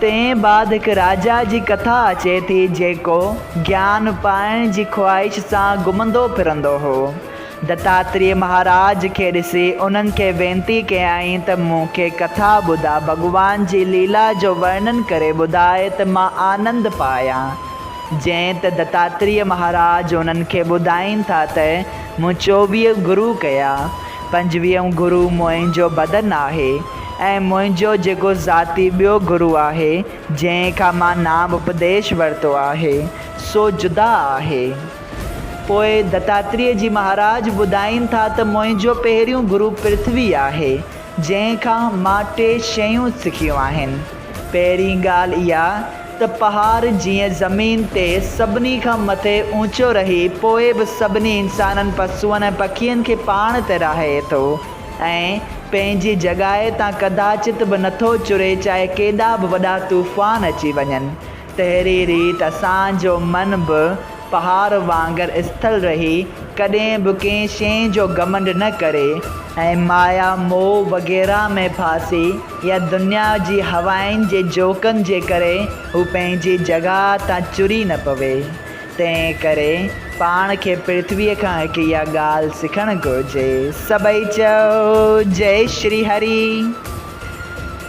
تنهن بعد هڪ راجا جي ڪٿا اچي ٿي جيڪو گيان پائڻ جي خواهش سان گهمندو ڦرندو هو. دتاتريء مهاراج کي ڏسي انهن کي وينتي ڪيائين ته مون کي ڪٿا ٻڌاء ڀڳوان جي ليلا جو ورنن ڪري ٻڌاء ته مان آنند پايان. جئين ته دتاتريء مهاراج انهن کي ٻڌائين ٿا ته مون چوويهه گرو ڪيا. پنجويهون گرو منهنجو بدن آهي ۽ منهنجو جيڪو ذاتي ٻيو گرو آهي، جنهن کان مان نام اپديش ورتو آهي، سو جدا آهي. پوء دتاتريء جي مهاراج ٻڌائين ٿا ته منهنجو پهريون گرو پرٿوي آهي، جنهن کان مان ٽي شيون سکيون آهن. پهرين ڳالهه اها ته پهاڙ جيئن زمين تي سڀني کان مٿي اوچو رهي پوء به سڀني انسانن، پسوئن ۽ پکين کي پاڻ تي راهي ٿو ۽ پنهنجي جڳائي تان ڪداچت به نٿو چري چاهي ڪيڏا به وڏا طوفان اچي وڃن. تهڙي ريت اسان جو من به پهاڙ وانگر اسٿل رهي ڪڏهن به ڪنهن شيء جو گهمنڊ نه ڪري ۽ مايا موهه وغيره ۾ ڦاسي يا دنيا جي هوائن جي جهوڪن جي ڪري هو پنهنجي جڳهه تان چري نه پوي. تنهن ڪري پاڻ کي پرٿويء کان هڪ اها ڳالهه سکڻ گهرجي. سڀئي چئو، جئي شري هري.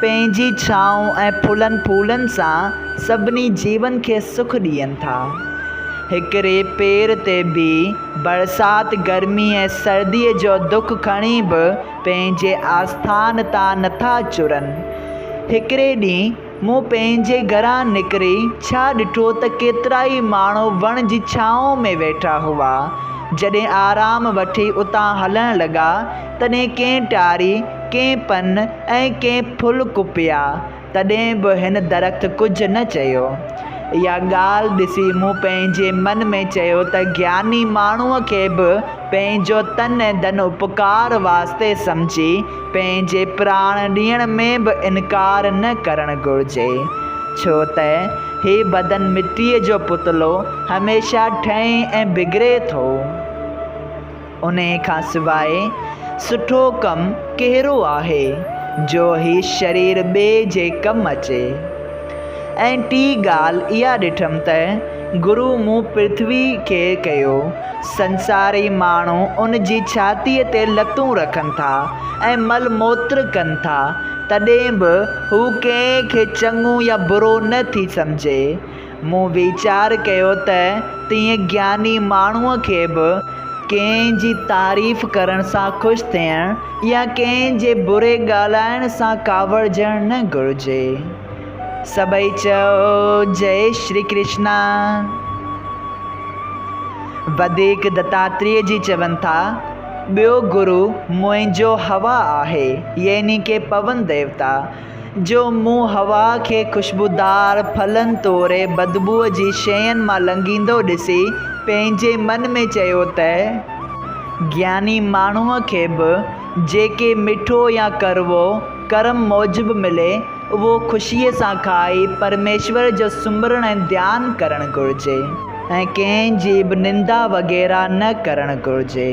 پنهنجي ڇانو ۽ ڦلن ڦولن سان سڀني جيون کي سک ڏين ٿا. هڪڙي پير تي بيهي برسات، گرمي ۽ سرديء جو دک کڻي به پنهنجي آسٿان تان نٿا چرن. هڪڙي ڏينهن مون پنهنجي گهران نڪري ڇا ڏٺو ته ڪيترائي ماڻهو وڻ جي ڇانو ۾ ويٺا هئا. جڏهن آرام وٺي اتان هلڻ لڳا تڏهن ڪئين ٽاري، ڪئين پن ۽ ڪئين ڦل ڪپيا، تڏهن به هن درخت ڪجهه نه چيو. اها ڳالهه ڏسي مون پنهنجي من ۾ چيو ته گياني ماڻهوء کي به پنهنجو تن ۽ ڌن اپڪار واسطي سمجهي پنهنجي پراڻ ڏيڻ ۾ به انڪار نه ڪرڻ گهرجي، ڇو ته هي بدن مٽيء جو پتلو هميشه ٺهي ۽ بگڙي ٿو. انهيء کان سواء سٺو ڪم ڪهڙو آهي جو هي شرير ٻئي جي ڪم اچي؟ ۽ ٽي ڳالهه اها ڏٺم ته گرو مون پرٿويء کي ڪيو. سنساري ماڻهو ان جي ڇاتيء تي لتون رکن ٿا ۽ مل موتر ڪن ٿا، تڏهن به هو ڪنهن کي چڱو يا برو نه ٿي سمجهي. مون ويچار ڪيو ته تيئن گياني ماڻهوء کي به ڪنهن جي تعريف ڪرڻ سان خوش ٿيڻ يا ڪنهن جي بري ڳالهائڻ سان ڪاوڙجڻ نه گهرجي. سڀئي چئو جئي شري ڪرشنا. وڌيڪ دتاتريء جي چون ٿا، ٻيو گرو منهنجو هوا آهي يعني ڪي پون ديوتا. جو مون حوا کي خوشبودار ڦلن توڙي بدبوء جي شين مان لنگهيندو ڏسي پنهنجي من ۾ چيو ته، گياني ماڻهوء کي به جيڪي مٺو يا ڪڙوو ڪرم موجب ملي، اهو خوشيء سان کائي پرميشور جو سمرڻ ۽ ڌيان ڪرڻ گهرجي ۽ ڪنهن جي به نندا وغيره نه ڪرڻ گهرجي.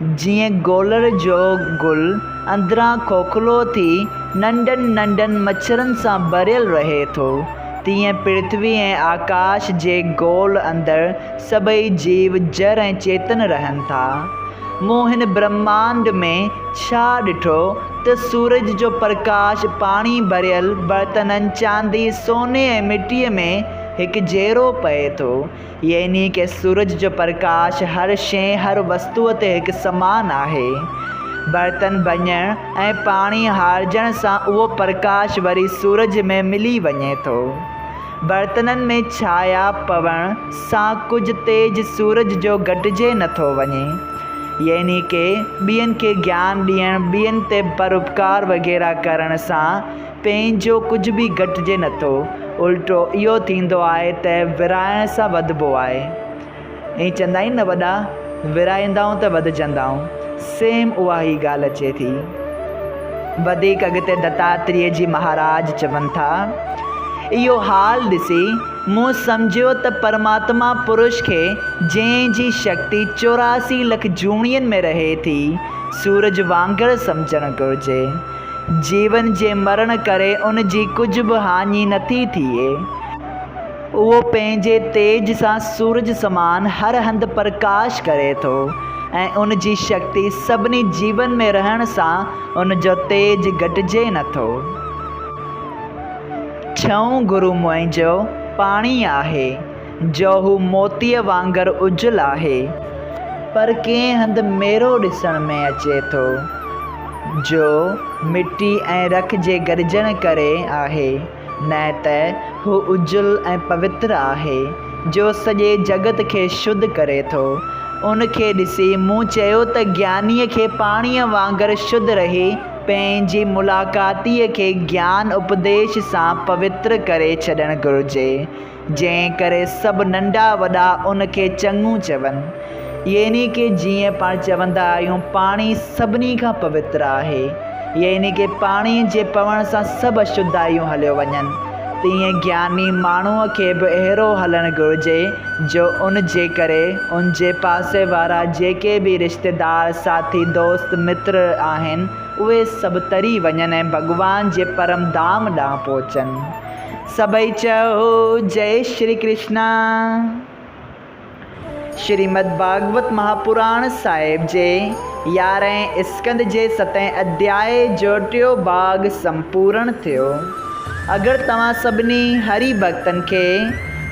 جيئن گولڙ جو گل اندران کوکلو ٿي ننڍن ننڍن مڇرن سان ڀريل رهي ٿو، تيئن پرٿوي ۽ آڪاش جي گول اندر سڀئي جيو، جر ۽ چيتن رهن ٿا. مون هن برهمانڊ ۾ ڇا ڏٺو ته سورج جو پرڪاش پاڻي ڀريل برتنن، چاندي، سوني ۽ مٽيء ۾ هڪجهڙو پئي ٿو يعني ڪي سورج جو پرڪاش هر شيء، هر وستوء تي هڪ سمان آهي. برتن ڀڃڻ ۽ پاڻي هارجڻ سان اهو پرڪاش وري سورج ۾ ملي وڃي ٿو. برتنن ۾ ڇايا پوڻ سان ڪجهه تيج سورج جو گهٽجي نه ٿو وڃي. يعني ڪي ٻين کي گيان ڏيڻ، ٻين تي پراپڪار وغيره ڪرڻ سان پنهنجو ڪجهه به گهٽجي نٿو، الٽو اهو ٿيندو آهي ته ورهائڻ سان وڌبو آهي. ائين چوندا آهن نه وڏا، ورهائيندائون ته وڌجندائون، سيم اها ئي ڳالهه اچي ٿي. وڌيڪ اڳتي دتاتريء جي مهاراج چون ٿا، اهو حال ڏسي مون سمجهيو ته پرماتما پرش کي جنهن جي شڪتي چوراسي لک جوڻين ۾ رهي ٿي، سورج وانگر سمجهڻ گهرجي. جيون جي مرڻ ڪري ان جي ڪجهه به هاڃي نٿي ٿئي. اهو پنهنجي تيج سان سورج سمان هر هنڌ پرڪاش ڪري ٿو ۽ ان جي شڪتي سڀني جيون ۾ رهڻ سان ان جو تيج گهٽجي نٿو. ڇهون گرو منهنجو پاڻي آهي. جو هو موتيء وانگر اجل آهي، پر ڪنهن هنڌ ميرو ڏسڻ ۾ اچي ٿو، جو مٽي ۽ رک جي گڏجڻ ڪري آهي، نه ته هو اجل ۽ پوتر آهي، جو سڄي جڳت کي شڌ ڪري ٿو. ان کي ڏسي مون چيو ته گيانيء کي پاڻيء وانگر شڌ رهي پنهنجي ملاقاتيء کي گيان اپديش سان پوتر ڪري ڇڏڻ گهرجي. جنهن ڪري سڀ ننڍا وڏا ان کي چڱو چون. يعني ڪه جيئن پاڻ چوندا آهيون پاڻي سڀني کان پوتر آهي، يعني ڪه پاڻي جي پوڻ سان سڀ اشڌايون هليو وڃن، تيئن گياني ماڻهوء کي به اهڙو هلڻ گهرجي جو ان جي ڪري ان جي پاسي وارا جيڪي به رشتيدار، ساٿي، دوست، متر آهن، اهي سڀ تري وڃن ۽ ڀڳوان جي پرم ڌام ڏانهن پهچن. سڀئي چئو جئ شري ڪرشنا. شريمد ڀاڳوت مهاپراڻ صاحب جي يارهين اسڪند جي ستين اڌياء جو ٽيو ڀاڳ سمپورڻ ٿيو. اگر توهان سڀني هري ڀڳتن کي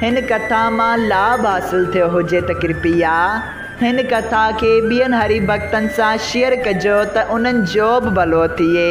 هن ڪٿا مان لاڀ حاصل ٿيو هجي ته ڪرپيا هن ڪٿا کي ٻين هري ڀڳتن سان شيئر ڪجو ته انهن جو به ڀلو ٿئي.